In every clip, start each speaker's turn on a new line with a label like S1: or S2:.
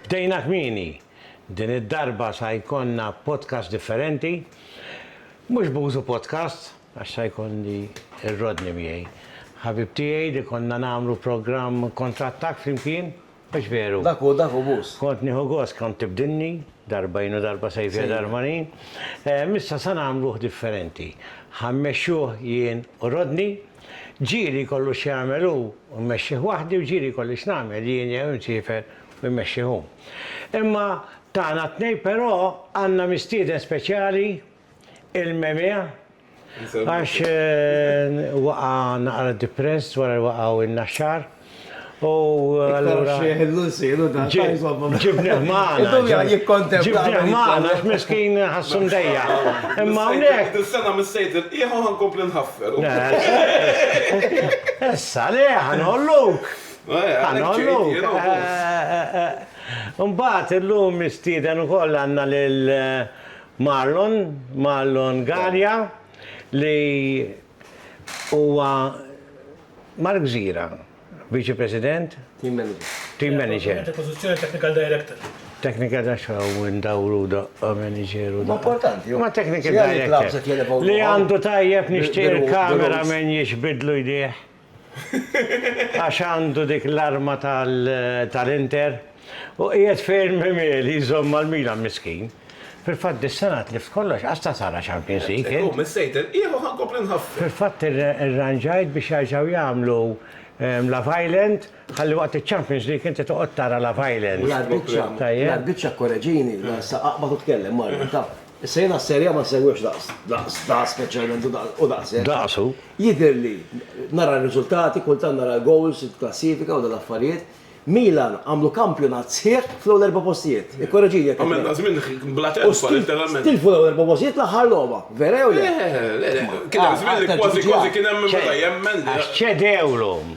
S1: Bdejna kmieni, din id-darba sa jkollna podcast differenti, mhux b'użu podcast, Għax sa jkolli r-Rodney miegħi. Ħabib tiegħi li konna nagħmlu programm kontrattakk flimkien, mhux veru? Dak hu, dak hu Mus. Kont nieħu gost, kont tibdilni, darba jien u darba Sejfia Darmani. Issa sa nagħmluh differenti. Ħa mmexxuh jien u Rodney. Ġieli jkollu x'jagħmel hu u mmexxih waħdi u ġieli jkolli x'nagħmel jien jew insiefer u jmexxih hu. Imma tagħna t-tnejn però għandna mistieden speċjali Il-memia, għax waqa' naqra depressed wara li waqgħu n-Naxxar u allura. Ġibnieh magħna. Ġibnieh magħna għax miskin ħassu mdejjaq. Imma hawnhekk. Is-sena mis-Sejd il-qiegħ u ħankompli nħaffer. Issa le, ħanolluk. Ħanolluk. Imbagħad illum mistieden ukoll għandna lil Marlon, Marlon Galea, li huwa Mark Gżira, Viċi President. Team Manager. Team Manager. Dik il-pożizzjoni Technical Director. Technical Director u ndawru daqqa Manager u daqqa. Huwa importanti. Huwa Technical Director. Li għandu tajjeb nixtieq il-camera man jixbidlu jdejh. għax għandu dik l-arma tal-Inter u qiegħed fejn Memeli jżomm mal-Milan miskin. Fil-fatt dis-sena tlift kollox, qas ta' sara Champions League int. Hu missejt il-qiegħ u ħa nkompli nħaffef. Fil-fatt irranġajt biex jerġgħu jagħmlu La Vaillant Ħalli waqt iċ-Champions League inti toqgħod tara la violence. L-arbiċċa, l-arbiċċa kkoreġini, la issa aqbad u tkellem Mario, taf. Issa jiena s-Serie A ma nsegwihx daqs, daqs, daqs speċjalment u daqs, u daqs hekk. Daqs hu. Jidhirli, nara r-riżultati, kultant nara l-goals, il-klassifika u dawn l-affarijiet, Milan għamlu kampjonat sħiħ fl-ewwel erba' postijiet. Ikkoreġini jekk. Għamilna żmien bla telfa, letteralment. U tilfu l-ewwel erba' postijiet fl-aħħar logħba, vera jew le? Le, le, le. Kien hemm żmien li kważi kważi kien hemm min beda jemmen. Għax ċedewlhom.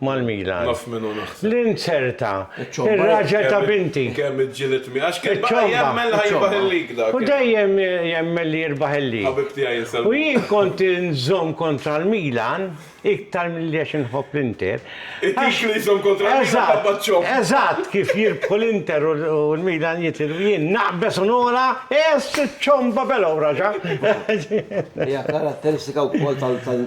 S1: mal-Milan. L-inzerta, ir-raġel ta' binti. Kemm iġġieled miegħi għax kien baqa' jemmen li ħajirbaħ il-lig dak. U dejjem jemmen li jirbaħ il-lig. Ħabib tiegħi jinsab. U jien kont inżomm kontra l-Milan iktar milli għax inħobb l-Inter. It-tip li jżomm kontra l-Milan ħabba ċ-ċomb. Eżatt, kif jirbħu l-Inter u l-Milan jitilfu jien naqbeż u nogħla, ess iċ-ċomba belgħa wraġa. Hija karatteristika wkoll tal.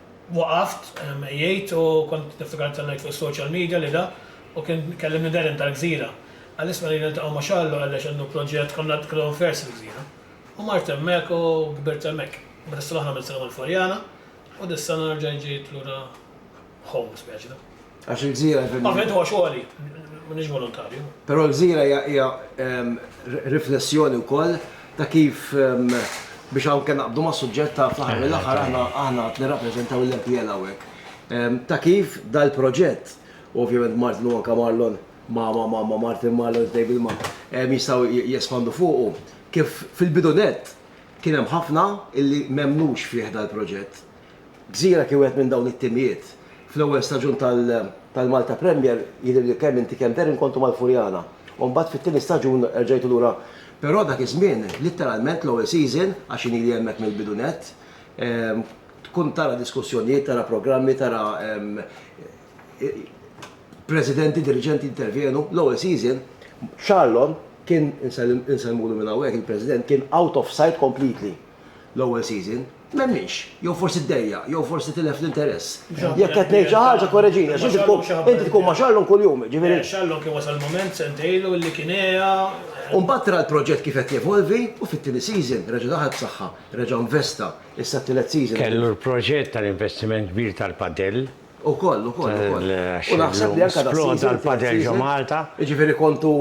S1: Waqaft, jgħid, u kont niftakar intant ngħid fuq is-social media li da u kien kellimni Darren tal-Gżira. Qallisna li niltaqgħu ma' Charles u qallex għandu proġett, konna konna unfers fil-Gżira. U mart hemmhekk u kbirt hemmhekk. Imbagħad is-sena l-oħra għamilt sena mal-Forjana u dis-sena nerġa' ġejt lura home speċi da. Għax il-gżira jfem. Ovvjament huwa xogħli, m'iniex volontarju. Però l-gżira hija hija ehm, r- riflessjoni wkoll ta' kif ehm, biex hawn kien naqbdu mas-suġġett ta' fl-aħħar mill-aħħar aħna aħna qed nirrappreżentaw l-MPL hawnhekk. Ehm, Ta' kif dal-proġett, u ovvjament Martin u anke Marlon ma' ma' ma' ma' Martin Marlon Table ma' ehm, jistgħu j- jespandu fuqu, kif fil-bidu nett kien hemm ħafna illi m'emmnux fih dal-proġett. Gżira kien wieħed minn dawn it-timijiet. Fl-ewwel staġun tal-Malta Premier jidhirli li kemm inti kemm Darren kontu mal-Furjana. U mbagħad fit-tieni staġun erġajtu lura. Però dak iż-żmien, litteralment l-ewwel season, għax jien ili hemmhekk mill-bidu nett, tkun tara diskussjonijiet, tara programmi, tara presidenti, diriġenti jintervjenu. L-ewwel season, Charlon kien, insellmulu minn hawnhekk, il-President, kien out of sight completely l-ewwel season. M'hemmx. Jew forsi ddejjaq, jew forsi tilef l-interess. Jekk qed ngħid xi ħaġa korreġini għax inti tkun, inti tkun ma' Charlon kuljum, jiġifieri. Eh, Charlon kien wasal mument sentejn ilu li kien għea. U mbagħad ra l-proġett kif qed jevolvi u fit-tieni season reġa' daħal b'saħħa, reġa' investa, issa t-tielet season. Kellu l-proġett tal-investiment kbir tal-padel. Ukoll, ukoll, ukoll. U naħseb li anke dal-season. Sploda l-padel ġo Malta. Jiġifieri kontu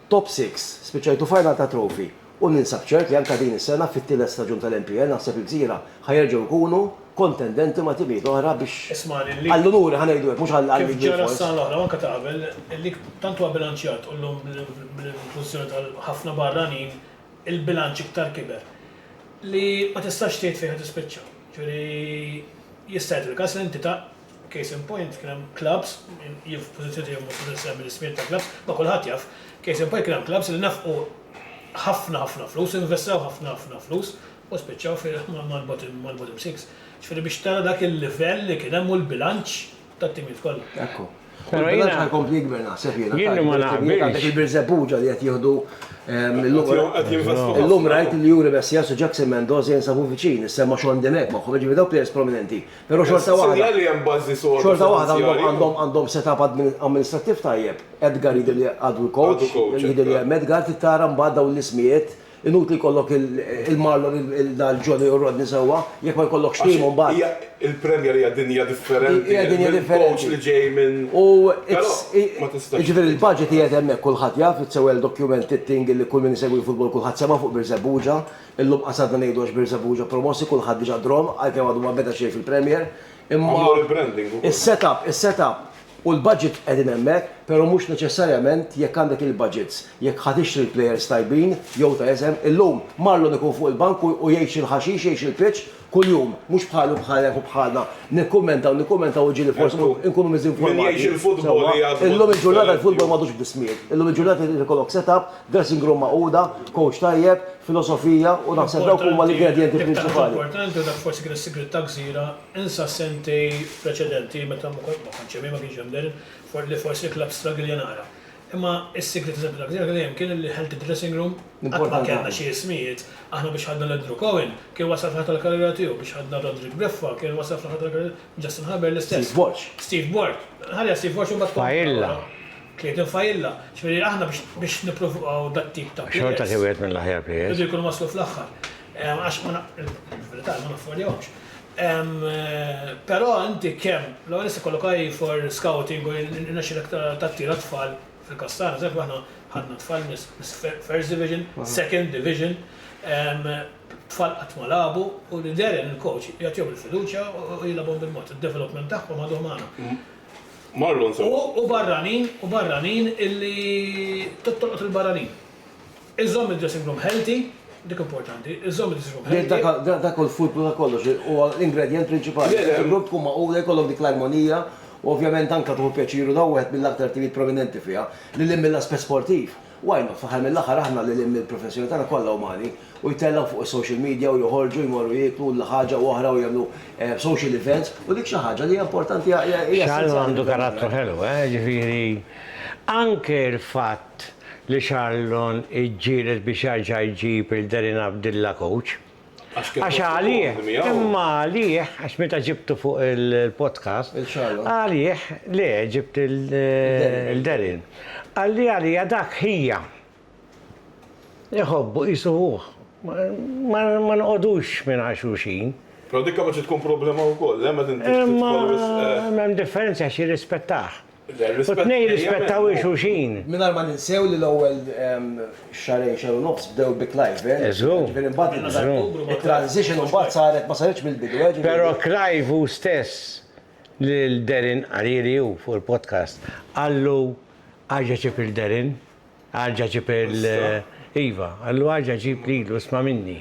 S1: Top Six, spiċċajt u final ta' Trophy u ninsab ċert li anke din is-sena fit-tielet staġun tal-NPL naħseb il-Gżira ħa jerġgħu jkunu kontendenti ma' timijiet oħra biex għall-unuri ħa ngħidu hekk mhux għall-kbir forsi. Kif ġara s-sena l-oħra u anke ta' qabel, il-lig tant huwa bilanċjat u llum bl-inklużjoni ta' ħafna barranin il-bilanċ iktar kiber li ma tistax tgħid fejn ħa tispiċċa. Ġifieri jista' jagħti l-każ li inti ta' Case in point, kien hemm clubs, jien f'pożizzjoni tiegħi mhux se nsemmi l-ismijiet ta' clubs, ma kulħadd jaf, case in point kien hemm clubs li nefqu ħafna ħafna flus, investew ħafna ħafna flus u spiċċaw fi mal-bottom mal-bottom six. Ġifieri biex tara dak il-livell li kien hemm u l-bilanċ tat-timijiet kollha. Ekku. Però Il-bilanċ jiena- ħajkompli jikber naħseb jiena. Jien ma Għandek naqbilx. il-Birżebbuġa li qed jieħdu ehm, illum- Qed jinvestu ħafna. Illum rajt li Juri Messias u Jackson Mendoza jinsabu viċin, is-sema Sean Demek magħhom, ġifieri dawk players prominenti. Però xorta waħda. Sinjal li hemm bażi soda. Xorta waħda għandhom għandhom set-up amministrattiv tajjeb. Edgar jidher li għadu l-coach. Għadu coach. Jidher li hemm Edgar trid tara mbagħad dawn l-ismijiet. Inutli jkollok il-Marlon il-Johnny u r-Rodney sewwa jekk ma jkollokx tim imbagħad. Hija il-Premier hija dinja differenti. Hija dinja differenti. Hemm coach li ġej minn. U però ma tistax. Jiġifieri l-baġit qiegħed hemmhekk kulħadd jaf, it's a well documented thing li kull min isegwi l-futbol kulħadd semgħa fuq Birżebbuġa. Illum qasarna ngħidu għax Birżebbu ġo promossi kulħadd diġa' drhom għalkemm għadu ma beda xejn fil-Premier imma is-setup, is-setup u l-budget qegħdin hemmhekk pero mhux neċessarjament jekk għandek il-budgets jekk ħa tixtri l-players tajbin jew ta' isem illum Marlon ikun fuq il-bank u jgħix il-ħaxix jgħix il-pitch kuljum, mhux bħali u bħalek u bħalna, nikkummentaw, nikkummentaw u ġieli forsi nkunu miżinformati. Min jgħix il-futbol li jgħaddu. Illum il-ġurnata l-futbol m'għadux bl-ismijiet. Illum il-ġurnata jrid ikollok set-up, dressing room magħquda, coach tajjeb, filosofija u naħseb dawk huma l-ingredjenti prinċipali. Dak tant importanti u dak forsi kien is-sigriet ta' Gżira, insa s-sentejn preċedenti meta ma kontx hemm jien ma kienx hemm, li forsi l-clubs struggle jien ara. Imma s-sigriet eżempju dak iż-żmien dejjem kien li healthy dressing room qatt ma kellna xi ismijiet, aħna biex ħadna 'l Andrew Cohen kien wasal fl-aħħar tal-karriera tiegħu, biex ħadna Roderick Briffa kien wasal fl-aħħar tal-karriera tiegħu, Justin Haber l-istess. Steve Borg. Ħalliha Steve Borg u mbagħad kompli tara wara. Failla. Clayton Failla. Ġifieri aħna biex biex nippruvaw dat-tip ta' players. Xorta xi wieħed mill-aħjar players. Irridu jkunu waslu fl-aħħar. Għax ma na il-verità hi ma naffordjawhomx. Però inti kemm, l-ewwel nett ikollok eye for scouting u jirnexxilek tattira tfal fil-każ tagħna, pereżempju aħna ħadna tfal mis-First Division, Second Division, tfal qatt ma lagħbu u li Darren il-coach jagħtihom il-fiduċja u jilgħabhom bil-mod, id-development tagħhom għaduh magħna. Marlon, sorry. U barranin, u barranin illi tolqot il-barranin. Iżżomm id-dressing room healthy, dik importanti, iżżomm id-dressing room healthy. Dak hu l-fulkru ta' kollox, huwa l-ingredjent prinċipali. Li dressing room tkun magħqula, jkollok dik l-armonija u ovvjament anke tieħu pjaċir u dan hu wieħed mill-aktar timijiet prominenti fiha, lil hinn mill-aspett sportiv. Why not? Fl-aħħar mill-aħħar aħna lil hinn mill-professjoni tagħna kollha umani u jtellgħu fuq is-social media u joħorġu jmorru jieklu l ħaġa u oħra u jagħmlu social events u dik xi ħaġa li hija importanti, hija essenzjali. X'għandu karattru ħelu, eh, jiġifieri anke l-fatt. fatt li Charlton iġġieled biex jerġa' jġib lil Darren Abdilla coach. Għax għalih, imma għalih, għax meta ġibtu fuq il-podcast, għalih, le, ġibt lil Darren. Qalli għalija dak ħija. Iħobbu qisu ħuh. Ma noqogħdux mingħajr xulxin. Però dik kapaċi tkun problema wkoll, le, meta inti titħol wisq. Imma hemm differenza għax jirrispettah. u t-tnejn jirrispettaw lil xulxin. Mingħajr ma ninsew li l-ewwel xahrejn, xahar u nofs bdew bi Clive, jiġifieri mbagħad it-transition mbagħad saret ma saritx mill-bidu, jiġifieri. Però Clive hu stess lil Darren Hariri hu fuq il-podcast qallu, Aġeċib lil Darren. Arġa' ġib il-. Iva, allu arġa' ġib lilu, isma' minni.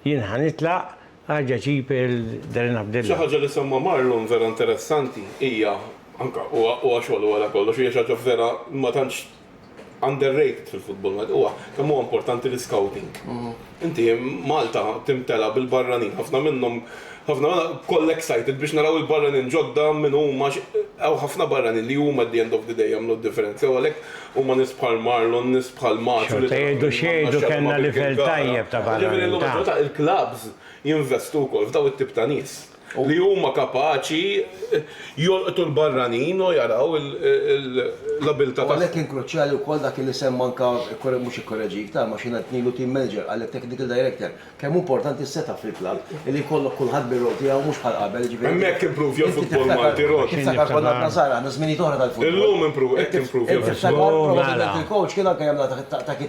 S1: Jien ħa nitlaq, arġa' ġib il. Darren Abdilla. Xi ħaġa li semma Marlon vera interessanti hija, anke huwa huwa xogħol u wara kollox, hija xi ħaġa vera ma tantx underrated fil-futbol Malti, huwa kemm huwa importanti l-iscouting. Inti, Malta timtela bil-barranin, ħafna minnhom, ħafna bkoll excited biex naraw il-barranin ġodda min huma, hawn ħafna barranin li huma at the end of the day jagħmlu d-differenza u għalhekk huma nies bħal Marlon, nies bħal Macio li ta' min ma nafx għadu ma' Birkirkara. Jiġifieri llum il-ġurnata il-clubs jinvestu wkoll f'dawn it-tip ta' nies. li huma kapaċi jolqtu l-barranin u jaraw l-abiltà tagħhom. U għalhekk kien kruċjali wkoll dak li semma anke, mhux ikkoreġik, ta' ma xi ngħid ngħidlu team manager, qalek technical director, kemm hu importanti s-setup fil-klabb, illi jkollok kulħadd bir-rol tiegħu mhux bħal qabel, jiġifieri. Hemmhekk impruvja l-futbol Malti, Ron. Inti tiftakar konna aħna żgħar, aħna żminijiet oħra tal-futbol. Illum impruvja, hekk impruvja l-futbol. Inti tiftakar, probabbilment il-coach kien anke jagħmilha ta' kif.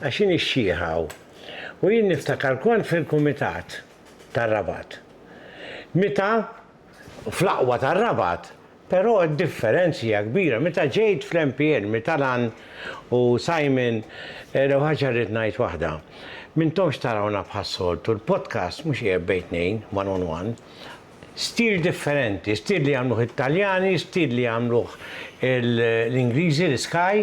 S1: Għax hi nixxieħ hawn. U jien niftakar kont fil-Kumitat tar-Rabat. Meta fl-aqwa tar-Rabat, però d-differenzi hija kbira. Meta ġejt fl-MPN, Mitalan u Simon, l-ewwel ħaġa rrid ngħid waħda. M'intomx tarawna bħas-soltu, l-podcast mhux qiegħed bejn tnejn, one on one. Stil differenti, stil li jagħmluh it-Taljani, stil li jagħmluh l-Ingliżi, l-Sky,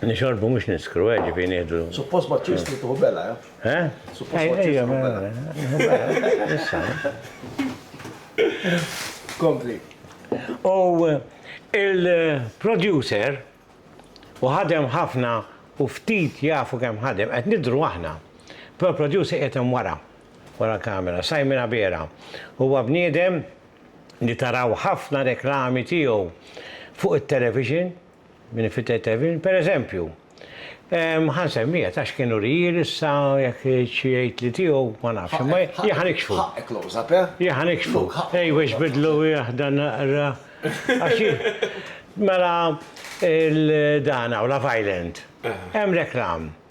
S1: Nixorbu mhux niskru, eh, ġifieri nieħdu. Suppost ma tixtru tieħu bela, eh? Eh? Suppost ma tixtru bela. Issa. Kompli. U il-producer u ħadem ħafna u ftit jafu kemm ħadem qed nidru aħna. Però producer qed hemm wara, wara l-kamera, Simon Abela. Huwa bniedem li taraw ħafna reklami tiegħu fuq it-television, Minn fitted Evelyn, per eżempju. Ħa nsemmiha tax kien urijir issa jekk xi jgħid li tiegħu ma nafx, imma jien ħa nikxfu. Ħaqqek close up, eh? Jien ħa nikxfu. Ej biex bidlu jahda naqra. Mela il-dan hawn la violent. Hemm reklam.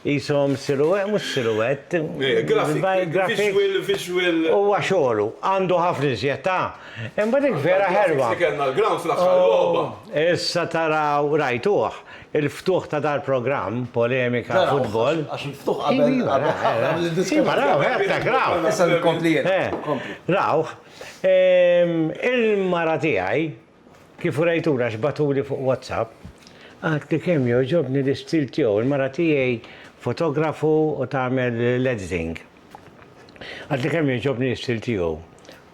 S1: Qishom siluwett, mhux siluwett. Grafik, visual. Huwa xogħlu, għandu ħafna iżjed, ta. Imma dik vera ħelwa. Dik kellna l-ground fl-aħħar logħba. Issa taraw, rajtuh, il-ftuħ ta' dal-programm, polemika, futbol. Għax il-ftuħ qabel id-diskors. Raw, hemm ta' ground. Issa nkompli jien. Rawh, il-mara tiegħi, Kif urejtulu għax bagħtuli fuq WhatsApp, għedt li kemm jogħġobni l-istil tiegħu. Il-mara tiegħi fotografu u tagħmel l-editing. Għedt li kemm jogħġobni l-istil tiegħu.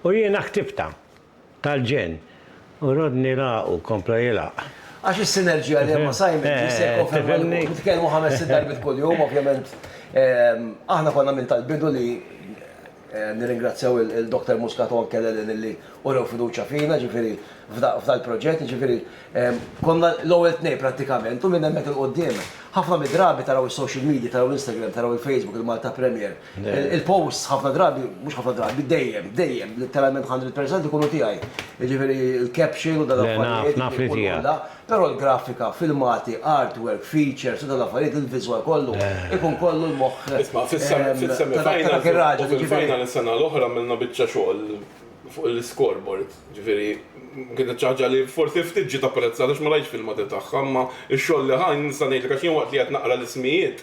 S1: U jiena ħtibtha. Tal-ġenn. U Rodney lagħaqu, kompla jilgħaq. Għax is-sinerġija li hemm ma' Simon ġie sew konferma. Nitkellmu ħames-sitt darbiet kuljum, ovvjament. Aħna konna minn tal-bidu li Nirringrazzjaw il-Dr. Muscat u anke l-ELN illi urew fiduċja fina, jiġifieri f'dal-proġett, jiġifieri konna l-ewwel tnejn prattikament u minn hemmhekk 'il quddiem ħafna mid-drabi taraw is-social media, taraw l-Instagram, taraw il-Facebook, il-Malta Premier, il-posts ħafna drabi, mhux ħafna drabi, dejjem, dejjem, litteralment hundred percent ikunu tiegħi, jiġifieri l-caption u dal-affarijiet, u l-għolla. Però l-grafika, filmati, artwork, features u dawn l-affarijiet, il-viżwal kollu, ikun kollu l-moħħ ta' dak ir-raġel, jiġifieri. Isma', fis-semifinals u fil-final is-sena l-oħra għamilna biċċa xogħol fuq l-iscoreboard, jiġifieri kienet xi ħaġa li forsi ftit ġiet apprezzata għax ma rajtx filmati tagħha, imma x-xogħol li ħa nista' ngħidlek għax jien waqt li qed naqra l-ismijiet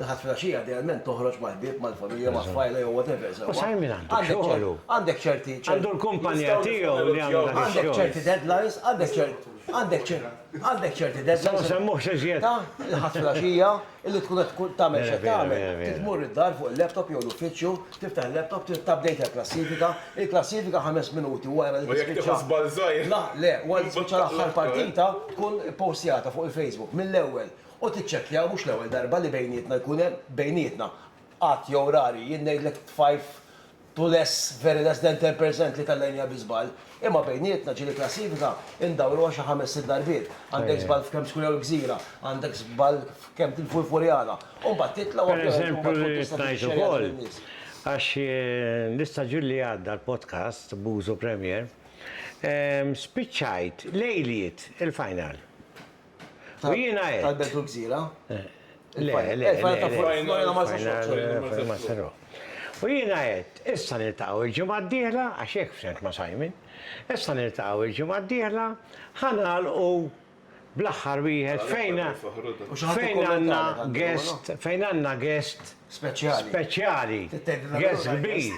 S1: Il-Ħadd filgħaxija idealment toħroġ mal-ħbieb, mal-familja, ma' tfajla jew whatever, sewwa. U sar min għandu xogħlu. Għandek ċerti. Għandu l-kumpanija tiegħu li jagħmel dak ix-xogħol. Għandek ċerti deadlines, għandek ċerti. Għandek ċerti. Għandek ċerti deadlines. Ma nsemmux iżjed. Ta' il-Ħadd filgħaxija, illi tkun qed tkun tagħmel x'qed tagħmel. Trid tmur id-dar fuq il-laptop jew l-uffiċċju, tiftaħ il-laptop, trid tupdate il-klassifika. Il-klassifika ħames minuti wara li tispiċċa. U jekk tieħu żball żgħir. La, le, wara li tispiċċa l-aħħar partita, tkun ippostjata fuq il-Facebook mill-ewwel. U tiċċekkjaw mhux l-ewwel darba li bejnietna jkun hemm, bejnietna, għadd jew rari, jien ngħidlek t-tfajf to less, very less than ten per cent li tellgħinha bi żball. Imma bejnietna, ġieli klassifika, indawruha xi ħames sitt darbiet. Għandek żball f'kemm skwir jew gżira, għandek żball f'kemm tilfu l-Furjana. U mbagħad titla' u ovvjament mbagħad tkun tista' tixxejja lil in-nies. Għax l-istaġun li għadda l-podcast b'użu Premiere, spiċċajt lejliet il-final. U jiena għedt. Tal-Belt u l-Gżira? Le, le, le. Il-final ta' fuq. L-final ta' fuq. Il-final ta' fuq. U jiena għedt, issa niltaqgħu l-ġimgħa d-dieħla, għax hekk ftemt ma' Simon, issa niltaqgħu l-ġimgħa d-dieħla, ħa nagħlqu bl-aħħar wieħed fejn għandna guest, fejn għandna guest. Speċjali. Speċjali. Guest kbir.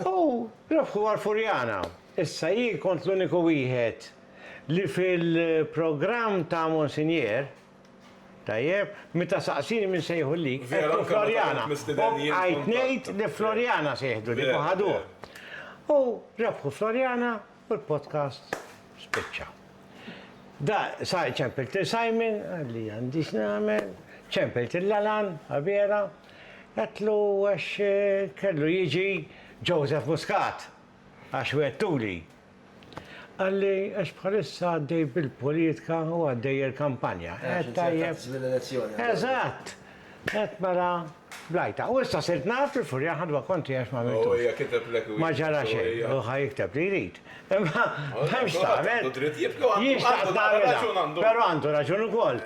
S1: U rebħuha l-Furjana. Issa jien kont l-uniku wieħed. Li fil-programm ta' Monsinjera, tajjeb, meta saqsini min se jieħu l-lig, għedtu Floriana. U bqajt ngħid li Floriana se jieħdu l-lig u ħaduh. U rebħu Floriana u l-podcast spiċċa. Da, sa ċempilt lil Simon, qal li għandi x'nagħmel, ċempilt lil Alan, Abela, għedtlu għax kellu jiġi Joseph Muscat, għax wettuli Qalli, għax bħalissa għaddej bil-politka u għaddej il-kampanja. Qed tajjeb. Żmien l-elezzjoni. Eżatt! Qed mara blajta. U issa sirt naf li Furjan ħadwa konti għax ma għamiltux. Hu hija kiteb lek u. Ma ġara xejn, hu ħa jikteb li jrid. Imma m'hemmx tagħmel. Għandu dritt jibki u għandu raġun. Però għandu raġun ukoll.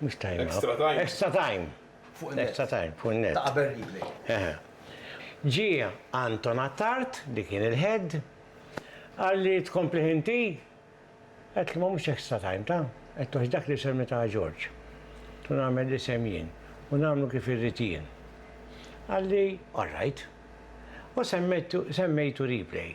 S1: Mux time. Extra time. Extra time. Fuq il-net. Extra time, fuq il-net. Ta' qabel replay. Ġie Anton Attard, li kien il-head, għal li tkompli ħinti, għet li ma mux extra time ta' għet toħx dak li semmi ta' Ġorġ. Tu namel li semjien, u namlu kif irritien. Għalli, all right. U semmejtu replay.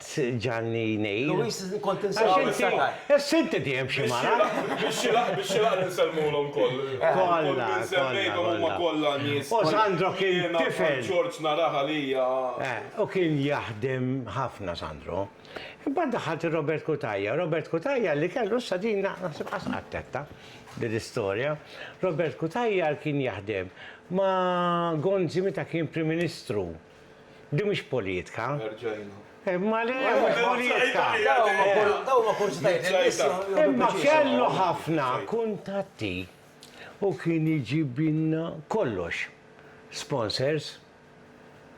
S1: tġagħalni ngħid. Louis, kont insab il-sagar. Issa inti dejjem xi mara. Bix-xilaq, bix-xilaq li nsellmulhom koll. Kollha, kollha, kollha. U Sandro kien tifel. Kont George narah għalija. U kien jaħdem ħafna Sandro. Imbagħad daħħalt ir-Robert Cutajar. Robert Cutajar li kellu issa din naħseb qatt qattetta din l-istorja. Robert Cutajar kien jaħdem ma' Gonzi meta kien Prim Ministru. Din mhix politka. Erġajna. Imma le, mhux politka. Dawn huma kurżitajiet li l-nies jieħdu pjaċir fihom. Imma kellu ħafna kuntatti u kien iġibilna kollox. Sponsors,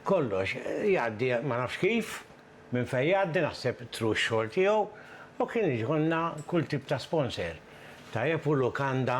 S1: kollox. Jgħaddi, ma nafx kif, minn fejn jgħaddi, naħseb through x-xogħol tiegħu, u kien iġibilna kull tip ta' sponsor. Tajjeb u lukanda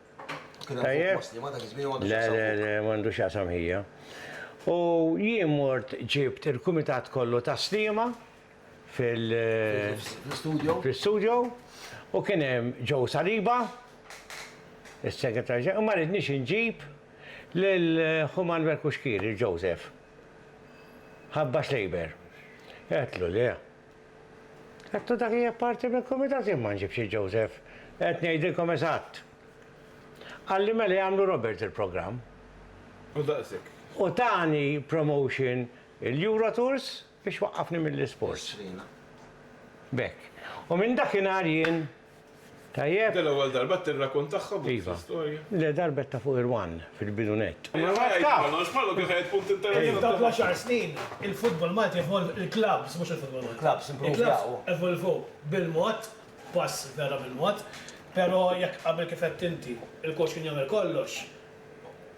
S1: Tajjeb? Le, le, le, m'għandux x'jaqsam ħija. U jien mort ġibt il-kumitat kollu ta' sliema fil- Fl-istudio. fl-istudio u kien hemm Joe Saliba, is-Segretarju Ġenerali, u ma ridniex inġib lil Ħu Manwel Kuxkieri, Joseph. Ħabba Schleiber. Għedtlu le. Għedtu dak li apparti minn kumitat jien ma nġibx il-Joseph. Qed ngħidilkom eżatt. Qalli mela jagħmlu Robert il-programm. U daqshekk. U tani promotion il-Eurotours biex waqqafni mill-isports. B'hekk. U minn dakinhar jien Tajjeb. Dell ewwel darba qed tirrakuntaħħa b'dik l-istorja? Iva. Le darba għedtha fuq ir-one fil-bidu nett. Imma ma jgħid kollox, Mallu kif għedt punt interessanti ħafna. F'dawk l-għaxar snin il-futbol Malti evolv, il-klabbs mhux il-futbol Malti. Il-klabbs impruvjaw. Il-klabbs evolvew bil-mod, pass vera bil-mod, però jekk qabel kif għedt inti, il-coach kien jagħmel kollox,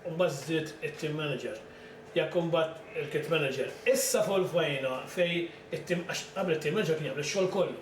S1: u mbagħad żdied it-team manager, jekk imbagħad il-kit manager. Issa evolvajna fejn it-team, għax qabel it-team manager kien jagħmel ix-xogħol kollu.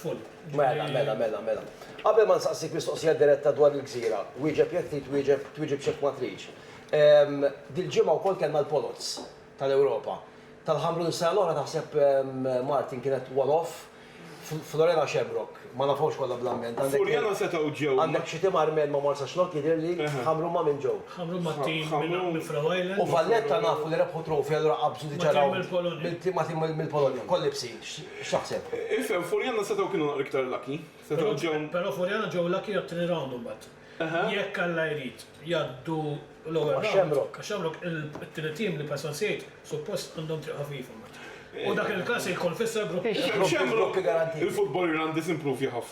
S1: Full. Mela, mela, mela, mela. Qabel ma nsaqsik mistoqsija diretta dwar il-gżira, wieġeb jekk trid twieġeb, twieġeb x'hekk ma tridx. Dil-ġimgħa wkoll kellna l-Poloz tal-Ewropa. Tal-Ħamrun is-sena l-oħra taħseb Martin kienet one off? Floriana Shamrock, ma nafhomx kollha bl-ambjent. Għandek Floriana setgħu ġew. Għandek xi tim Armen ma' Marsaxlokk jidhirli, Ħamrun ma' min ġew? Ħamrun ma' tim minn Faroe Islands. U Valletta nafu li rebħu trofea allura qabżu diġà rawnd. Ma' tim mill-Polonja. Ma' tim mill-Polonja, Kollibsi. X'taħseb? Ifhem, Furjana setgħu kienu naqra iktar lucky. Setgħu ġew. Però Furjana ġew lucky għat-tieni round imbagħad. Jekk Alla jrid, jgħaddu l-ewwel round. Ma' Shamrock. Ma' Shamrock, it-tieni tim li Payson Said suppost għandhom triq ħafifa. U dak il-każ se jkun fisser grupp. Shamrock, il-futbol Irlandiż improvja ħafna.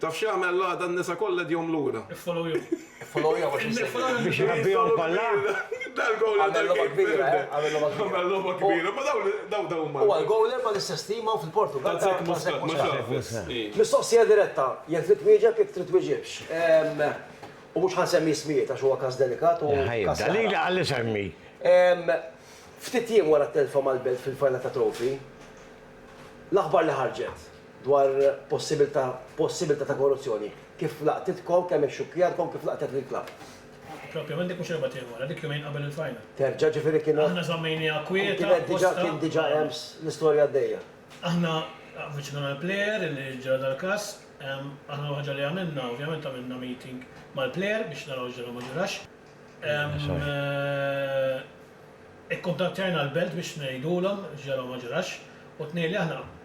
S1: Taf x'jagħmel l-għada n-nisa kollha edhom lura. Follow you. Follow you għax insegwi. Biex irabbihom balla? Dal goal għamel logħba kbira, eh? Għamel logħba kbira. Għamel logħba kbira, ma dawn dawn dawn huma. Huwa l-goaler mal-istess tim hawn fil-Portugall. Tazek Muscat, ma x'għamel. Mistoqsija diretta, jekk trid twieġeb jekk trid twiġibx. U mhux ħansemmi ismijiet għax huwa każ delikat u. Ħajjibda, qalilha qalli semmi. Ftit jiem wara t-telfa mal-Belt fil-Final ta' Trophy, l-aħbar li ħarġet. dwar possibilità possibilità ta' korruzzjoni, kif laqtitkom, kemm ixxukkjatkom, kif laqtet lill-klabb. Propjament dik mhux erbgħat ieħor wara, dik jumejn qabel il-final. Terġa', ġifieri kienet. Aħna żammejnieha kwieta. U kienet diġà, kien diġà hemm l-istorja għaddejja. Aħna avviċinajna l-plejer li ġara dal-każ. Aħna l-ewwel ħaġa li għamilna, ovvjament għamilna meeting mal-plejer biex naraw x'ġara u ma ġarax. Ikkuntattjajna l-belt biex ngħidulhom x'ġara u ma ġarax. U t-tnejn li aħna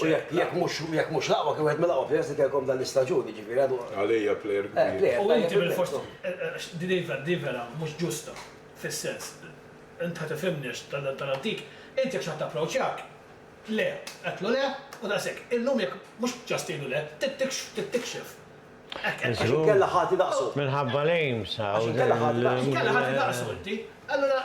S1: U jekk jekk mhux jekk mhux l-aqwa kien wieħed mill-aqwa players li kellkom dan l-istaġun, jiġifieri għadu. Għalija player kbir. U inti bilfors di vera mhux ġusta fis-sens, int ħa tifhimni għax tal-antik, int jekk xi ħadd approċjak, le, għedtlu le u daqshekk. Illum jekk mhux just tgħidlu le, tittikxef. Għax inkella ħati daqsu. Minħabba l-aims hawn. Għax inkella ħati daqsu. Għax inkella ħati daqsu inti. Allura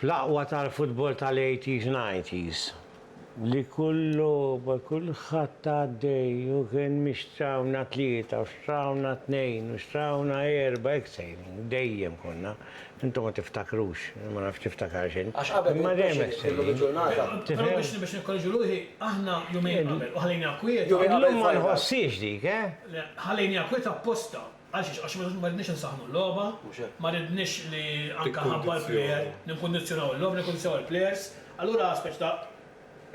S1: Fl-aqwa tal-futbol tal-80s nineties li kull logħba, kulħadd għaddej u kien minn xtrawna tlieta u xtrawna tnejn u xtrawna erba' hekk sejrin, dejjem konna, intom ma tiftakrux, jien ma nafx tiftakarx int, imma dejjem hekk sejrin. Tifhem? Illum ma nħossiex dik, eh? Għal xiex? Għax ma ridniex insaħħnu l-logħba, ma ridniex li anke ħabba l-plejer, nikkundizzjonaw il-logħba, nikkundizzjonaw il-plejers. Allura speċi ta'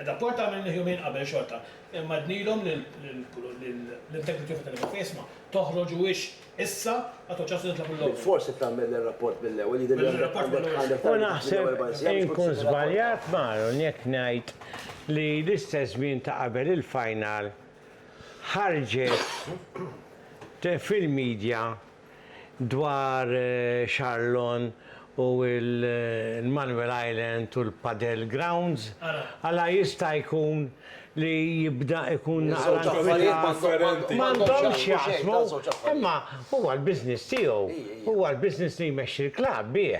S1: rapport għamilnih jumejn qabel xorta. Imma għednilhom lill-integrity of Athletic Club isma' toħroġuhiex issa għad hu ċans li nitlabu l-logħba. Bilfors irid tagħmel ir-rapport mill-ewwel, jidhirli għandek għandek għandek tagħmel mill-ewwel erba' sijat. U naħseb inkun żbaljat m'Aaron jekk ngħid li l-istess żmien ta' qabel il-final ħarġet fil-media dwar Charlon u l-Manuel Island u l-Padel Grounds, għala jista' jkun li jibda jkun naqra inkwietat. M'għandhomx x'jaqsmu, imma huwa l-business tiegħu, huwa l-business li jmexxi l-klabb bih.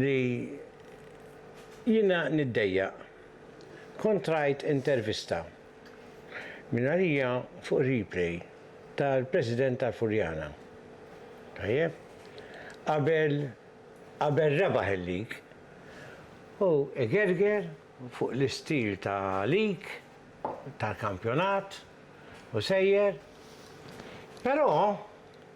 S1: li jiena niddejjaq. Kont rajt intervista, mingħalija fuq Replay, tal-President tal-Furjana. Tajjeb? Qabel qabel rebaħ il-lig, hu igerger fuq l-istil ta' lig, tal-kampjonat, u sejjer. Però.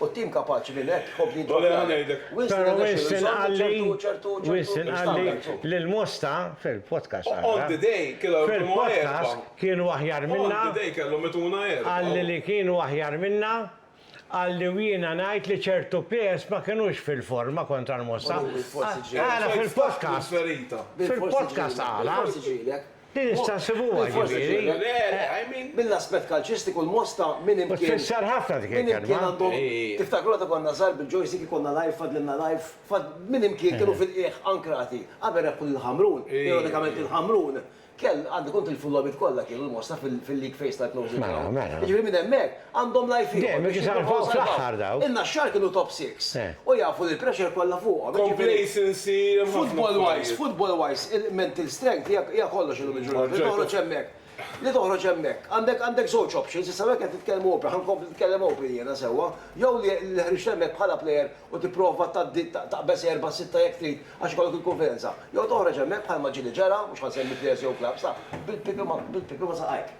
S1: U t-tim kapaċi li l-hekk ħobb li jidrob l-għalep. Però Winston qalli, Winston qalli li l-Mosta, fil-podcast għadha, fil-podcast kienu aħjar minna, qalli li kienu aħjar minna, qalli u jiena ngħid li ċertu players ma kinux fil-forma kontra l-Mosta. Qala fil-podcast, fil-podcast qala. Din issa nsibuha, ġifieri. Mill-aspett kalċistiku l-Mosta minn hemm kien. U tfisser ħafna dik il-kelma. Minn hemm kien għandhom. Tiftakru meta konna żgħar bil-ġojs jekk ikollna live fadlilna live fad minn hemm kien kienu fil-qiegħ ankrati. Qabel rebħu lil Ħamrun, ironikament lil Ħamrun, kell għandu jkun tilfu l-logħbiet kollha kienu l-Mosta fil-league phase tal-closing. Mela, mela. Jiġifieri minn hemmhekk. Għandhom life ieħor biex jippruvaw jsalvaw. In-Naxxar kienu top six u jafu li l-pressure kollha fuqhom. Complacency hemm ħafna affarijiet. Football wise, football wise, mental strength hija kollox illum il-ġurnata. Li toħroġ hemmhekk. Li toħroġ hemmhekk. Għandek żewġ options, issa hawnhekk qed nitkellmu open, ħa nkompli nitkellem open jiena sewwa, jew li ħriġt hemmhekk bħala player u tipprova tgħaddi taqbeż erbgħa sitta jekk trid għax ikollok il-kunfidenza. Jew toħroġ hemmhekk bħalma ġieli ġara, mhux ħa nsemmi players jew clubs, ta' bil-pipi ma' saqajk.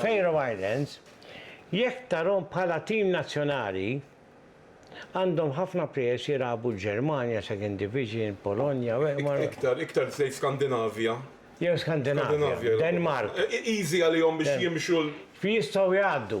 S1: Faroe Islands, jekk tarhom bħala tim nazzjonali, għandhom ħafna players jilagħbu l-Ġermanja, Second Division, Polonja, ma. Iktar, iktar tgħid Skandinavja. Jew Skandinavja, Denmark. Easy għalihom biex jimxu l. Jistgħu jgħaddu.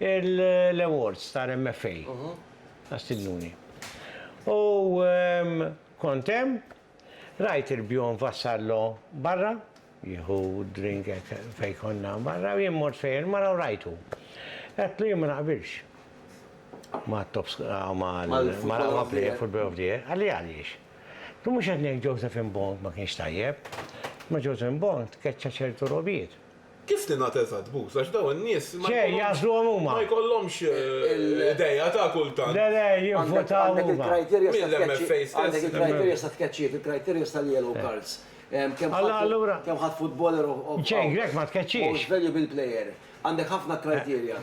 S1: l-awards tal-MFA għas-Signuni. U kont hemm, rajt il-bjonn vassallo barra, jieħu drink fejn konna barra, jien mort fejn il-mara u rajtu. Għedtlu jien ma naqbilx ma' tops ma' l-mara play football of the year, għalli għaliex. Tu mhux qed ngħid Josephine Bond ma kienx tajjeb, ma' Josephine Bond keċċa ċertu robiet. Kif tingħata eżatt, Buz? Għax dawn in-nies ma jkollhomx. Xejn, jagħżluhom huma. Ma jkollhomx idea ta' kultant. Le, le, jivvutaw huma. Għandek il-criteria ta' tkeċċi. Mill-MFA stess. Għandek il-criteria ta' tkeċċi, il-criteria tal-yellow cards. Allura. Kemm ħadd footballer of. Xejn, Grech ma tkeċċiex. Most valuable player. Għandek ħafna criteria.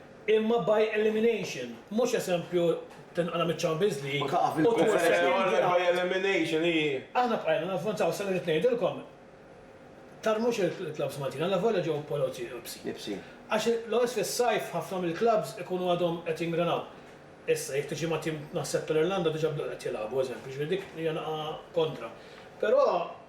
S1: imma by elimination, mhux eżempju tinqala' miċ-Champions League u tmur second round. Aħna bqajna navvanzaw sa li rrid ngħidilkom, tarmux il-clubs Maltin, allavolja ġew poloz ibsin. Għax l-ewwel fis-sajf ħafna mill-clubs ikunu għadhom qed jingranaw. Issa jekk tiġi ma' tim naħseb tal-Irlanda diġà bdew qed jilagħbu eżempju, jiġifieri dik hija naqa' kontra. Però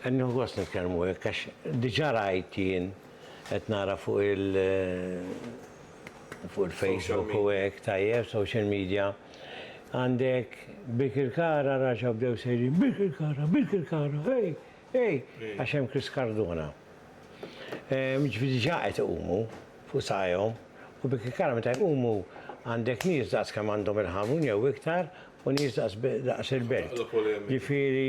S1: Qed nieħu gost nitkellmu hekk għax diġà rajt jien qed nara fuq il fuq il-Facebook u hekk tajjeb, social media. Għandek Birkirkara raġgħu bdew sejrin Birkirkara, Birkirkara, ej, ej, għax hemm Chris Cardona. Jiġifieri diġà qed iqumu fuq saqajhom u Birkirkara meta jqumu għandek nies daqs kemm għandhom il-Ħamrun jew iktar u nies daqs il-Belt. Jiġifieri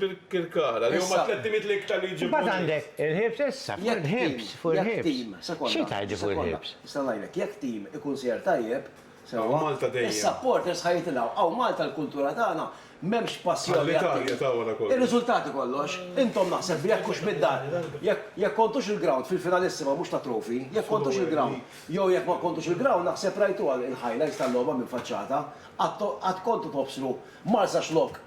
S1: Birkirkara, li huma tlett imit l-iktar li jġibu. Imbagħad għandek il-ħibs issa, fuq il-ħibs, fuq il-ħibs. Xi tgħid fuq il-ħibs? Nista' ngħidlek, jekk tim ikun sejjer tajjeb, sewwa, is-supporters ħa jitilgħu. Hawn Malta l-kultura tagħna m'hemmx passjoni għat-tim. Ir-riżultati kollox. Intom naħseb li jekk hux mid-dar, jekk kontux il-ground fil-finalissima mhux ta' trofi, jekk kontux il-ground, jew jekk ma kontux il-ground naħseb rajtuha l-highlights tal-logħba mill-faċċata, qatt kontu tobsru Marsaxlokk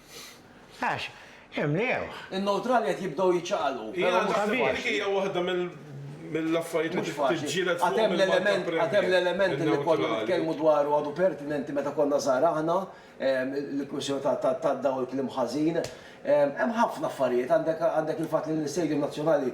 S1: Għax imlewh. In-newtrali qed jibdew jiċċaqalqu, però mhux faċli. Jiena naħseb dik hija waħda mill-affarijiet li trid tiġġieled fuqhom il-Malta Premier. Għad hemm l-element li konna nitkellmu dwaru għadu pertinenti meta konna żgħar aħna, il-kwistjoni tad-dawl kliem ħażin. Hemm ħafna affarijiet, għandek il-fatt li l-Istadium Nazzjonali,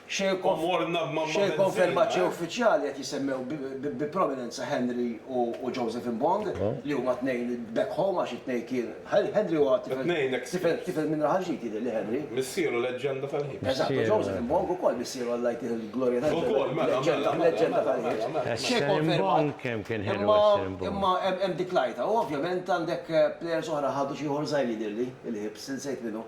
S1: Xejn konfermat xejn uffiċjali qed jisemmew bi prominenza Henry u Joseph Mbong li huma tnejn back home għax it-tnejn kien Henry huwa tifel tifel minn Raħal Ġdid jidhirli Henry. Missieru leġġenda tal-ħiet. Eżatt u Joseph Mbong ukoll missieru Alla jtih il-glorja tal-ġenna. Ukoll mela mela mela leġġenda tal-ħiet. Xejn konfermat imma imma hemm dik l-għajta u ovvjament għandek players oħra ħadu xi ieħor żgħir jidhirli il-Hibs insejt min hu.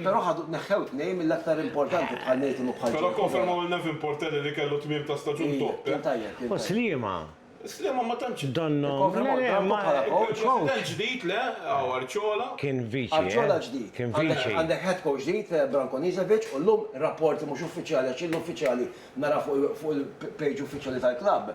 S1: Però ħadu tneħħew tnejn mill-aktar importanti bħal Nathan u bħal Joe. Però kkonfermaw lil Nevin Portelli li kellu tmiem ta' staġun top, eh? U Sliema? Sliema ma tantx. Donnhom. Ikkonfermaw lil Branco bħala coach. President ġdid, le? Hawn Arciola. Kien viċi. Arciola ġdid. Kien viċi. Għandek head coach ġdid, Branko Niževic, u llum rapporti mhux uffiċjali, għax illum uffiċjali nara fuq il-page uffiċjali tal-klabb,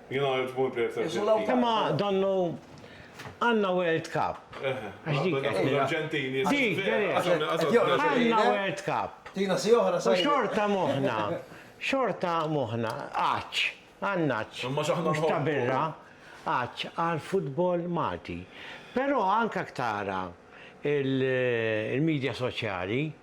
S1: Imma donnu għandna World Cup. Għax dik qed nirrepeti. Dik, għandna World Cup. U xorta moħħna, xorta moħħna għatx, għan-ngħatx, mhux ta' birra, għatx għall-futbol Malti. Però anke jekk tara l-midja soċjali,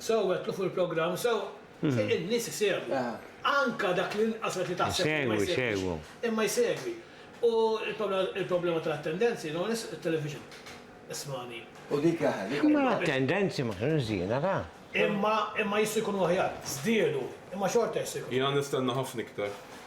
S1: Sew għedtlu fuq il-programm sew in-nies isegwu. Anke dak l-inqas wieħed li taħseb li ma jsegwix. Imma jsegwi. U l-problema tal-attendenzi no one is television. Ismagħni. U dik jaħ. Imma l-attendenzi ma kienux żiena ra. Imma imma jistgħu jkunu aħjar. Żdiedu. Imma xorta jistgħu jkunu. Jiena nistenna ħafna iktar.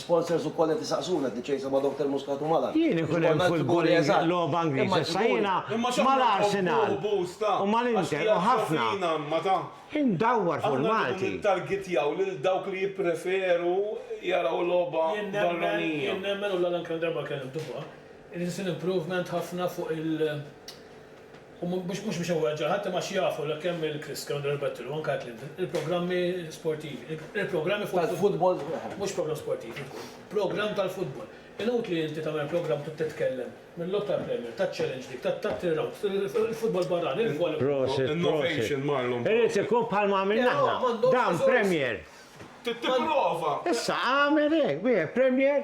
S1: Sponsors ukoll qed isaqsuna, Diċejsa ma' Doctor Muscat u Malar. Jien ikun hemm futbol logħba Ingliża issa jiena mal-Arsenal u mal-Inter u ħafna indawwar fuq il-Malti. U mhux biex iweġġa' ħadd imma għax jafu li kemm il-Kriska, Under Arbettur, u anke Atlinta, il-programmi sportivi, il-programmi fuq il-futbol, mhux programm sportiv ikun, programm tal-futbol. Inutli inti tagħmel programm trid titkellem mil-logħob tal-Premier, tat-Challenge League, tat-Three Rounds, il-futbol barrani, il-volleyball. Prosit, innovation Marlon, prosit. Irid ikun bħalma għamilna aħna. Dan Premier. Trid tipprova. Issa agħmel hekk, bih, Premier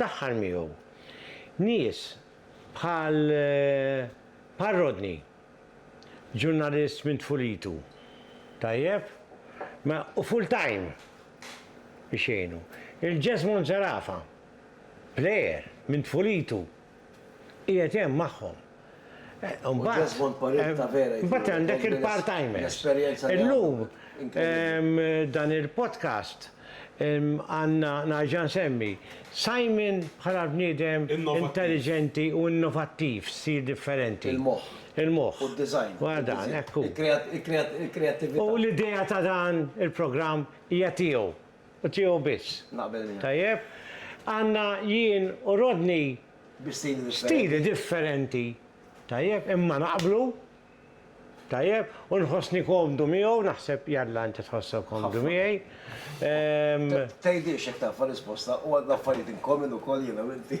S1: Daħħal miegħu nies bħal bħal Rodney, ġurnalist minn tfulitu, tajjeb, ma u full-time biex jgħinu. Il-Jesmond Zerafa, plejer minn tfulitu. qiegħed hemm magħhom. Imbagħad għandek il-part timers. Illum dan il-podcast għandna nerġa' nsemmi Simon bħala l-bniedem intelliġenti u innovattiv f'stil differenti. Il-moħħ. Il-moħħ. U d-design. Wara dan, hekk hu. Il-kreattività. U l-idea ta' dan il-programm hija tiegħu. u tiegħu biss. Naqbel miegħek. Tajjeb? Għandna jien u Rodney Bi stili differenti. stili differenti. Tajjeb, imma naqblu. Tajjeb, u nħossni komdu miegħu, naħseb jalla inti tħossok komdu miegħi. Ehm, Tgħidilx jekk taf risposta u għandna affarijiet in common ukoll jiena u inti.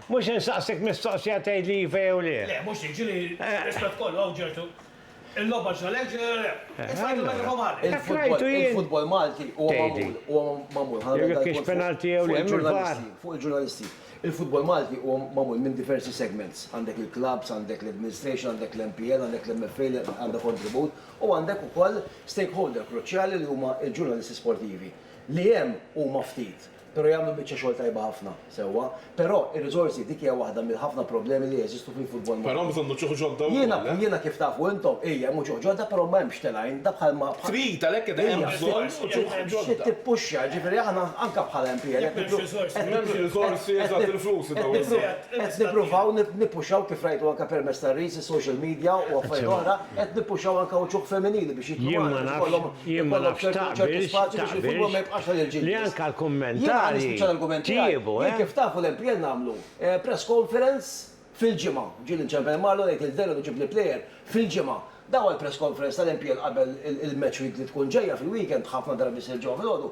S1: Mhux insaqsik mistoqsija tgħidli iva jew le. Le, mhux dik, ġieli rispett kollu, hawn ġertu. Il-logħba x'inha lejk, x'inha le. Issa ngħidu meta jkun mgħarref. Dak rajtu jien. Il-futbol Malti huwa magħmul, huwa magħmul, ħa nagħmel dal-punt fuq il-ġurnalisti, fuq il-ġurnalisti. Il-futbol Malti huwa magħmul minn diversi segments. Għandek il-klabbs, għandek l-administration, għandek l-MPL, għandek l-MFA li għandha kontribut, u għandek ukoll stakeholder kruċjali li huma l-ġurnalisti sportivi, li hemm huma ftit. Però jagħmlu biċċa xogħol tajba ħafna, sewwa. Però ir-riżorsi, dik hija waħda mill-ħafna problemi li jeżistu fil-futbol Malti. Però hemm bżonn uċuħ ġodda wkoll, Jiena, eh? jiena kif tafu intom, ija, hemm uċuħ ġodda però ma hemmx telgħin, da bħalma, bħal. Trid, għalhekk qed hemm bżonn uċuħ ġodda. Trid tippuxxa, ġifieri aħna anke bħala MPL qed nippru, qed nippru, M'hemmx riżorsi, eżatt, il-flus li dawn. qed nippruvaw nippuxxaw kif rajtu anke permezz tar-reels, is-social media u affarijiet oħra, Qed nippuxxaw anke uċuħ femminili biex jidħlu magħna biex ikollhom ikollhom ċertu ċertu spazju biex il-futbol ma jibqax għal il-ġilgħas. Jien ħa nispiċċa l-argument tiegħi. Jien kif tafu l-MPL nagħmlu press conference fil-ġimgħa. Ġieli nċempen Marlo ngħid il-veru ġib li plejer fil-ġimgħa. Daw għall-press conference tal-MPL qabel il-match week li tkun ġejja fil-weekend ħafna drabi ssir ġewwa filgħodu.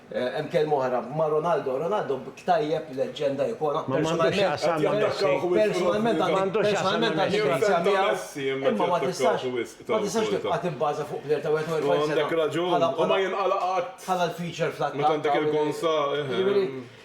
S1: Hemm kelma oħra ma' Ronaldo. Ronaldo b'k tajjeb, leġġenda, ikona. Ma m'għandux x'jaqsam ma' Messi. Personalment għandi grazja miegħu, imma ma tistax ma tistax tibqa' tibbaża fuq plejer ta' 41 sena bħala bħala l-feature fl-attakk. Jiġifieri.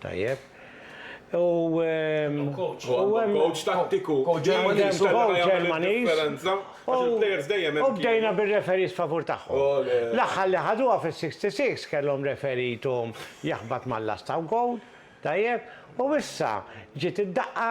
S1: Tajjeb. U għandhom coach tattiku. Coach Ġermaniż. Coach Ġermaniż. U bdejna bir-referees favur tagħhom. L-aħħar li ħaduha fis-66 kellhom referee tom jaħbat mal-lasta wkoll. Tajjeb. U issa ġiet id-daqqa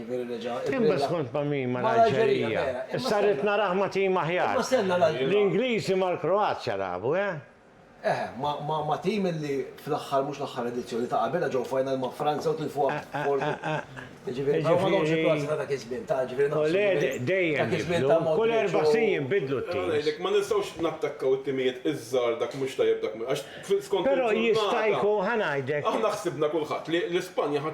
S1: Imbagħad kont ma' min? Ma' l-Alġerija. Issa rrid narah ma' tim aħjar. L-Ingliżi mal-Kroazja lagħbu, eh? Eh, ma' tim illi fl-aħħar mhux l-aħħar edizzjoni ta' qabilha ġew final ma' Franza u tilfuha b'kortu. Jiġifieri dawn m'għadhomx il-Kroazja ta' dak iż-żmien, ta' jiġifieri naqsu. U le, dejjem jinbidlu. Kull erba' snin jinbidlu t-timijiet. Ara ngħidlek, ma nistgħux nattakkaw it-timijiet iż-żgħar dak mhux tajjeb dak mhu, għax skont il-ġurnata. Però jista' jkun, ħa ngħidlek. Aħna ħsibna kulħadd li l-Ispanja ħa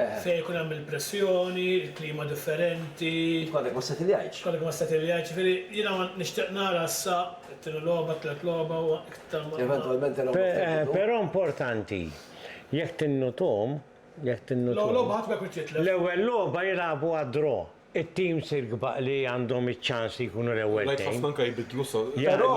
S1: Fejn ikun hemm il-pressjoni, il-klima differenti. Jekk għadek ma settiljajtx. Għadek ma settiljajtx, jiġifieri jiena nixtieq nara issa t-tieni logħba, t-tielet logħba u iktar ma. Eventwalment il-logħba f'Egittu. Però importanti, jekk tinnutom, jekk tinnutom. L-ewwel logħba ħadd ma jkun jitlef. L-ewwel logħba jilagħbuha draw. It-teams irkbaq li għandhom iċ-ċans li jkunu l-ewwel Rajt ħafna anke jbiddlu sa. Però,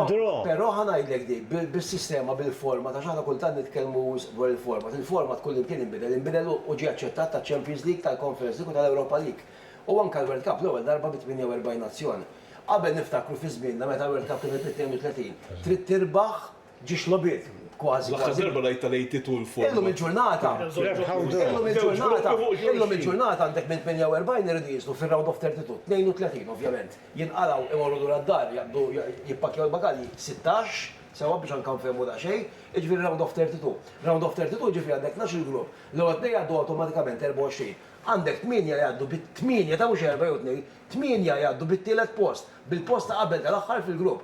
S1: però, però ħa ngħidlek din, bis-sistema, bil-format, għax aħna kultant nitkellmu wisq dwar il-format, il-format kullimkien inbidel, inbidel u ġie aċċettat taċ-Champions League, tal-Conference League u tal-Europa League. U anke l-World Cup l-ewwel darba bi 48 nazzjon. Qabel niftakru fi żmienna meta l-World Cup kienet bi 32. Trid tirbaħ Ġiex logħbiet, kważi kważi. L-aħħar darba l-Għid tal-Għid itul forma. Illum il-ġurnata. Illum il-ġurnata. Illum il-ġurnata għandek minn 48 iridu jinżlu fir-round of 32, 32 ovvjament. Jinqalgħu imorru lura d-dar jaqbdu jippakkjaw il-bagalji, 16, sewwa biex anke nfehmu daqsxejn, jiġifieri round of 32. Round of 32 jiġifieri għandek 12-il grupp, l-ewwel tnejn jgħaddu awtomatikament 24. Għandek tmienja jgħaddu bi, tmienja ta' mhux erbgħa jew tnejn, tmienja jgħaddu bit-tielet post, bil-post ta' qabel tal-aħħar fil-grupp.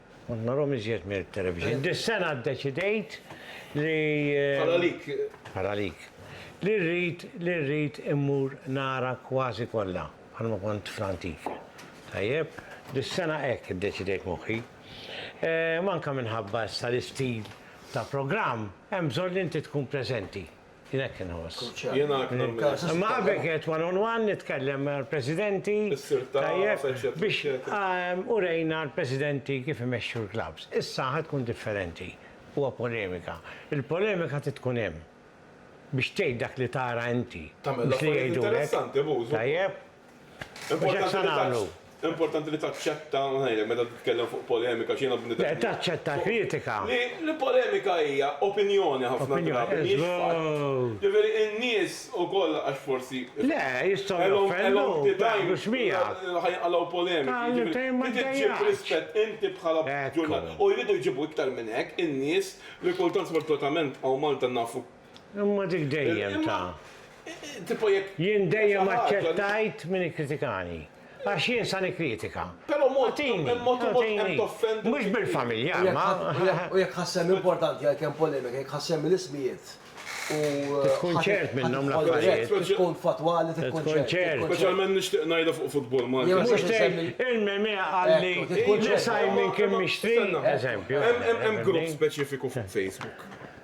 S1: Kont narhom iżjed mit-televixin. Dis-sena ddeċidejt li. Bħal għalik. Bħal għalik. Li rrid, li rrid immur nara kważi kollha bħalma kont fl-antik. Tajjeb? Dis-sena hekk iddeċidejt moħħi. Ehm, anke minħabba issa l-istil ta' programm, hemm bżonn li inti tkun preżenti. Jien hekk inħoss. Kruċjali. Jiena hekk nagħmel. Imma qabel kienet one on one, nitkellem mal-presidenti. Issir tagħraf, eċċetera. Biex urejna l-presidenti kif imexxu l-klabbs. Issa ħa tkun differenti. Huwa polemika. Il-polemika trid tkun hemm biex tgħid dak li tara inti. Tagħmel affarijiet interessanti, Bużu. Tajjeb? Importanti li taċċetta, ngħidlek meta titkellem fuq polemika x'jiena bniedem. Le taċċetta kritika. Li polemika hija opinjoni ħafna drabi mhijiex fatt. Ġifieri n-nies ukoll għax forsi. Le, jistgħu joffendu, ma jaqblux miegħek. Ħajinqalgħu polemiki. Inti ġġib rispett inti bħala ġurnalist. U jridu jġibu iktar minn hekk in-nies li kultant sfortunatament hawn Malta nafu Imma dik dejjem ta'. Tipo jekk. Jien dejjem aċċettajt min ikkritikani. Għax jien sa nikkritika. Però mod hemm toffendi. Mhux bil-familja, ma. U jekk ħassem importanti għal kemm polemika, jekk ħassem l-ismijiet u. Tkun ċert minnhom l-affarijiet. Tkun fatwali, tkun ċert. Speċjalment nixtieq ngħidha fuq futbol Malti. Mhux tgħid il-meme qalli li Simon kien mixtri, eżempju. Hemm grupp speċifiku fuq Facebook.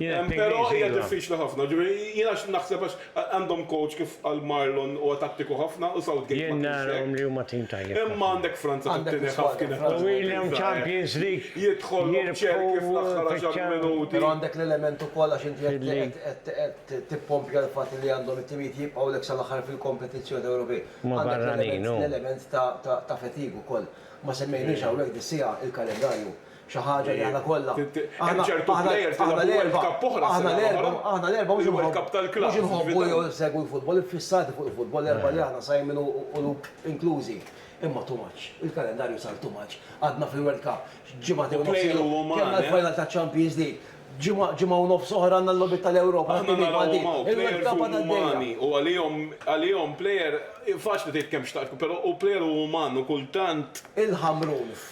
S1: Però hija diffiċli ħafna, ġifieri jiena naħseb għax għandhom coach kif qal Marlon huwa tattiku ħafna u Southgate ma kienx hekk. Imma għandek Franza tat-tieni ħaff kienet taħdem. Jidħol Cherki fl-aħħar għaxar minuti. Però għandek l-element ukoll għax inti qed tippompja l-fatt li għandhom it-timijiet jibqgħulek sal-aħħar fil-kompetizzjoni Ewropej. Għandek l-element ta' fatigue ukoll. Ma semmejniex hawnhekk dis-siegħa l-kalendarju. Xi ħaġa li aħna kollha. Hemm ċertu plejers li labu World Cup oħra s-sena l-oħra. Aħna l-erbgħa mhux inħobbu. Il-World Cup tal-Clubs. Mhux inħobbu jew insegwu l-futbol, iffissati fuq il-futbol l-erbgħa li aħna, Simon u Luke inklużi. Imma too much. Il-kalendarju sar too much. Għadna fil-World Cup. Ġimagħtejn u nofs ilu. Kellna l-final taċ-Champions League. Ġimgħa, ġimgħa u nofs oħra għandna l-logħbiet tal-Ewropa. Aħna nagħlqu hawn. Il-World Cup għadha għaddejja. U għalihom, għalihom plejer, faċli tgħid kemm xtaqt, però hu plejer u uman u kultant. Il-Ħamrun.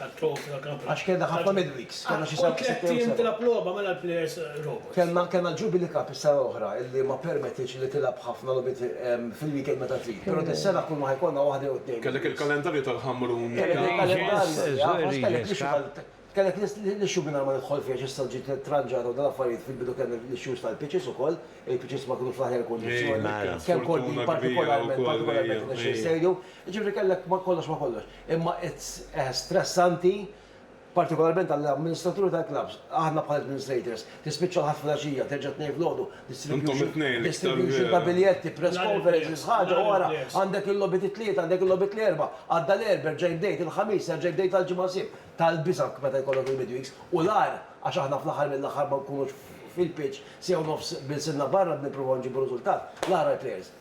S1: Tat-trofi tal Kampion. Għax kellna ħafna midweeks, kellna xi seba' sitt jew seba'. Tilgħab logħba mela l-plejers robots. Kellna kellna l-Jubilee Cup is-sena l-oħra illi ma ppermettitx li tilgħab ħafna logħbiet fil-weekend meta trid. Però dis-sena kull ma ħa jkollna waħda jew tnejn. Kellek il-kalendarju tal-Ħamrun. Kellek il-kalendarju, jaf, kellek l-issue kellek l-issue mingħajr ma nidħol fiha x'issa ġiet tranġata u dawn l-affarijiet fil-bidu kellna l-issues tal-pitches ukoll, il-pitches ma kinux fl-aħjar kundizzjoni, kemm kordin partikolarment partikolarment irnexxiel sejru. Jiġifieri kellek ma kollox ma kollox. Imma it's stressanti, partikolarment għall-amministraturi tal-klabbs. Aħna bħala administrators, tispiċċa l-Ħadd filgħaxija, terġa' t-Tnejn filgħodu, distribution ta' biljetti, press conferences, ħaġa wara, għandek il-logħbiet it-Tlieta, għandek il-logħbiet l-Erbgħa, għadda l-Erbgħa, erġa' jbdejt, il-Ħamis, erġa' jbdejt tal-Ġimgħa Sibt. Tal-biża' meta jkollok il-midweeks. U l-agħar, għax aħna fl-aħħar mill-aħħar ma nkunux fil-pitch siegħa u nofs b'ilsinna barra nippruvaw nġibu riżultat, l-agħar għall-players.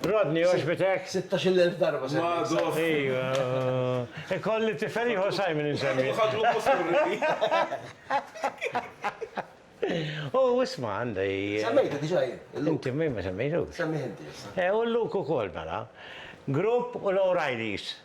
S1: Rodney, għoġbitek? Sittax il elf darba semmejt Simon. Ejw. Ikolli tifel ieħor Simon insemmi. Ħadlu U isma' għandi. Semmejtu diġà jien. Inti min ma semmejtux. Semmih inti issa. U Luke ukoll mela. Grupp u l-O'Reillys.